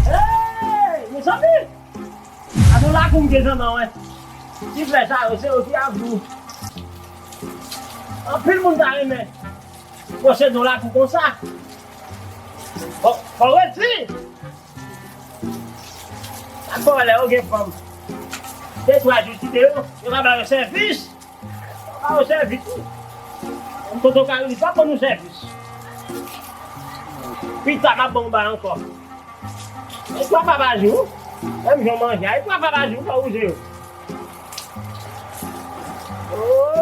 Hey! Mezanmi! A nou lakou m gen jan nan wè. Ti flè sa yo, se yo ki ap gou. Anpil moun ta renmen posede yon lakou konsa. Bon, fò w redi! Sa k fè w wè lè yo gen fanm de twa jou kite yo, yo ka ba yo sèvis. Pa ou sèvis wi. Tonton Caroli pa ban nou sèvis. Pita map ban ou bay ankò. E 3 fwa pa jou. Menm jan w manje a e 3 fwa pa jou fò ou je yo.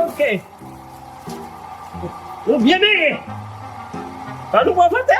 Ok. Nou byen benyen. An nou pran sante.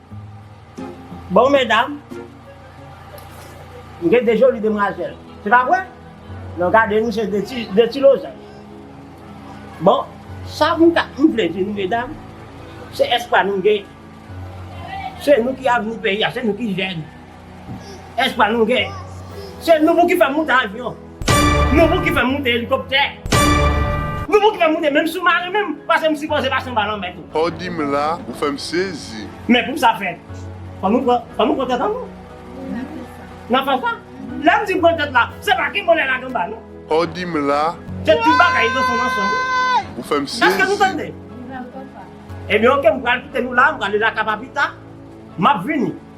Bon medam, nou gen de joli demwazèl, se pa vre? Non gade nou se de ti lozanj. Bon, sa m vle di nou medam, se espwa nou gen, se nou ki avni peyi a, se nou ki jèn. Espwa nou gen. Se nou pou ki fè moute avyon. Nou pou ki fè moute elikoptè. Nou pou ki fè moute menm soumaren menm pase m sipoze pase anba lanmè tou. Sa w di m la, ou fè m sezi. Men pou sa fèt, fò nou pran, fò nou pran tèt annou. N ap fè sa. Lè m di pran tèt la, se pa ki vole lage anba non. Sa w di m la. Se ti bagay nan fon nan son nou. Ou fè m sezi. Èske nou tande? Ebyen ok, m pral kite nou la, m prale Laka pa pita. M ap vini.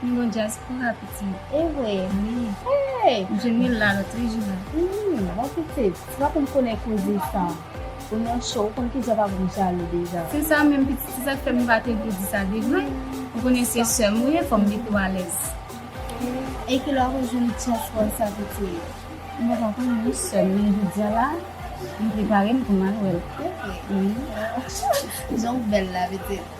Pi bon dyaspora pitit. Evre ui. Hey! M jwenn li la lot wi Jina. Ui, bon pitit. Ou pa konn konnen koze sa. Ou nan cho, ou konn kijan papa m jalou deja. Se sa menm pitit, se sak fè m pa te vle di sa devan. Ou konnen se sè m ou ye, fò m mete w alèz. E ki lè w te jwenn tyèch wòl sa pitit? M pa t anko jwenn yon sè m, men jodia la, m prepare m pou m al wè l. Evre? Ui. Jan w bèl la pitit.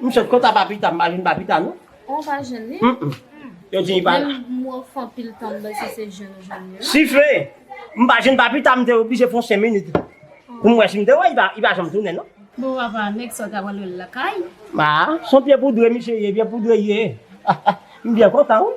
M sot konta papita m pa jwenn papita non. Ou pa jwenn li? Yo di li pa la. Menm mwen fè anpil tan m bè si se jwenn ou jwenn li. Sifle! M pa jwenn papita m te oblije pran 5 minit pou m wè si m te wè li. Li pa janm tounen non. Bon papa, nèg sa w ta pral wè l lakay? A, s on pye poudre misye ye, pye poudre l ye. M byen kontan wi.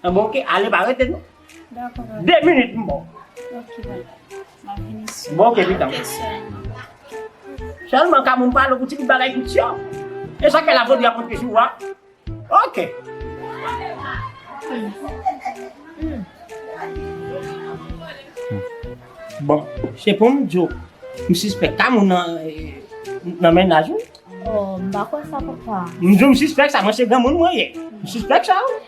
An bon ok ale pa rete non. Dako papa. 2 minit m bon. Ok papa. Map vini sou. Bon ok pitanm. Ok selman. Selman ka moun pale pou ti bout bagay tout syon. E sak fè la vodi a pote sou a. Ok. Bon se poum di w m sispèk ka moun nan nan mennaj ou. Oh m pa kwè sa papa. M di w m sispèk sa mwen se granmoun mwen ye. M sispèk sa wi.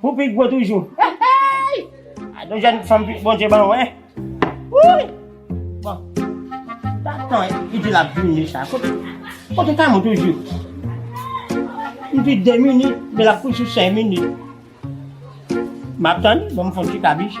Pou pi gwo toujou. Hey! A nou jèn fanm pi Bondye ban ou, hein? Wouyy! Bon. Ta tan li di lap vini sa. Kote kote Kamou toujou? Li di 2 minit, men lap kouri sou 5 minit. Map tann li, bon m fon ti kabish.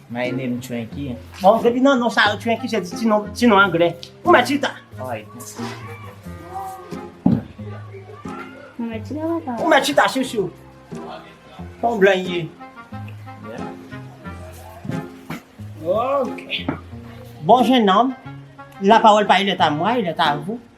My name Twenky. Bon, depi nan non sa yo Twenky se ti non, ti non anglè. Ou mè chita. Ou mè chita papa. Ou mè chita sou sou. Bon blan ye. Ok. Bon jeune homme, la parole pa il est à moi, il est à vous.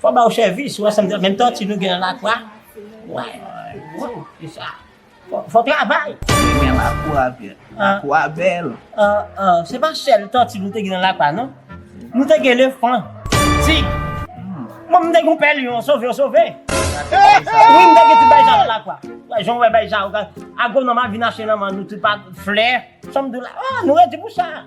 Fò ba ou sèvis ou wè sam di la menm tòti nou gen nan lakwa wè waww se sa fò travay. Mwen renmen lakou a vye. Lakou a bèl. Se pa sèl tòti nou te gen nan lakwa non. Nou te gen elefan, tig. Mwen menm m te gen yon pè lyon, sove ou sove. Wi m te gen ti bay sa nan lakwa. Jan ou wè bay sa yo, agwonòm a vin achte nan men nou ti pa flè. Sa m di w la, nou redi pou sa.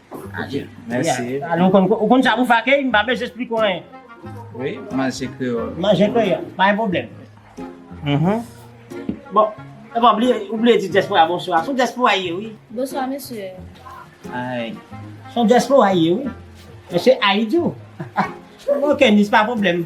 Adje. Mèsi. Alon konn ou konn sa pou fè akèy, m pa bezwen esplike w anyen. Wi, manje kreyòl. Manje kreyòl, pa gen pwoblèm. Hum-hum. Bon, e pa bliye, ou bliye di dyaspora bonswa. Son dyaspora ye wi. Bonswa mesye. Ay. Son dyaspora ye wi. Mesye Ayidyou. Ok, miss pa pwoblèm.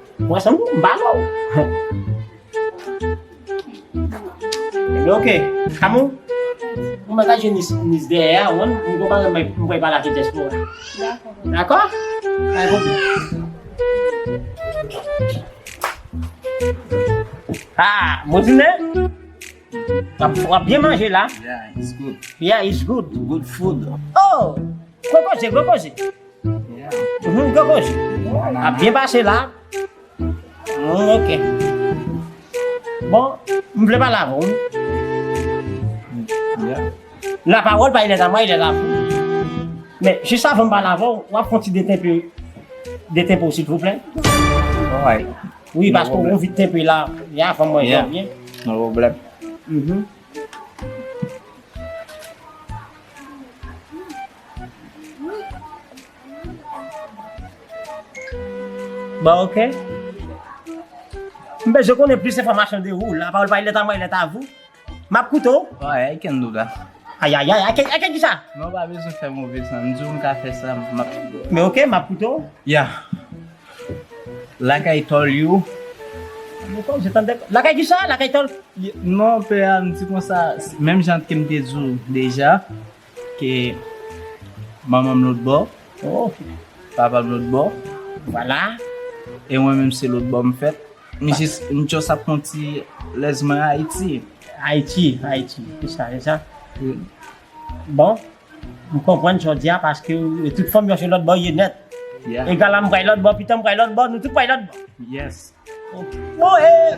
Mwen se moun mba wè ou. Ok. Kamou. Mwen mwen kaje nis nis de ya ou an. Mwen mwen mwen mwen mwen bala te jespo. Dako. Ha. Mwen di ne. Wap byen manje la. Yeah it's good. Yeah it's good. Good food. Oh. Koko je koko je. Humm Gogoch ap byen pase la Humm ok Bon m vle pale avè w La parole pa ilè a mwa ilè a vou Men jis avan m pale avè w wap fon ti deten pou deten pou silvouplè Alright Wi paske w vit ten pou la ya avan mwen jwenn byen No problem Humm Bon ok. M bezwen konnen plis enfòmasyon de ou. La parole va il est à moi, il est à vous. M ap koute w. Ay, I can do that. Ayayay, I can, I can kisa? Non, ou pa bezwen fè move san. M di w m ka fè sa, m ap. Men ok, m ap koute w. Yeah. Like I told you. Mwen kwè m se tande. Like I kisa? Like I told. Non, pè a, m di konsa, menm jan ke m te di w deja. Ke manmanm lòt bò oh papam lòt bò vwala e mwen menm se lòt bò m fèt misye m just ap pran ti lèz mwen Ayiti. Ayiti Ayiti se sa se sa bon m konprann sa w di a paske de tout fòm yon se lòt bò ye nèt egala m bway lòt bò pitanm bway lòt bò nou tout bway lòt bò yes oh eh.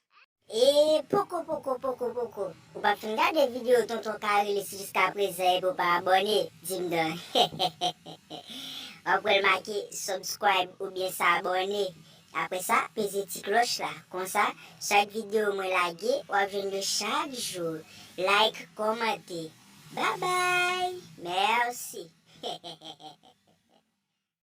E poko poko poko poko ou pa fin gade video tonton karilis jiska prezan epi ou pa abòne dim dan wap wèl make subscribe oubyen s'abonne apre sa peze ti klòch la konsa chak video mwen lage wap jwenn yo chak jou like kòmante babay merci.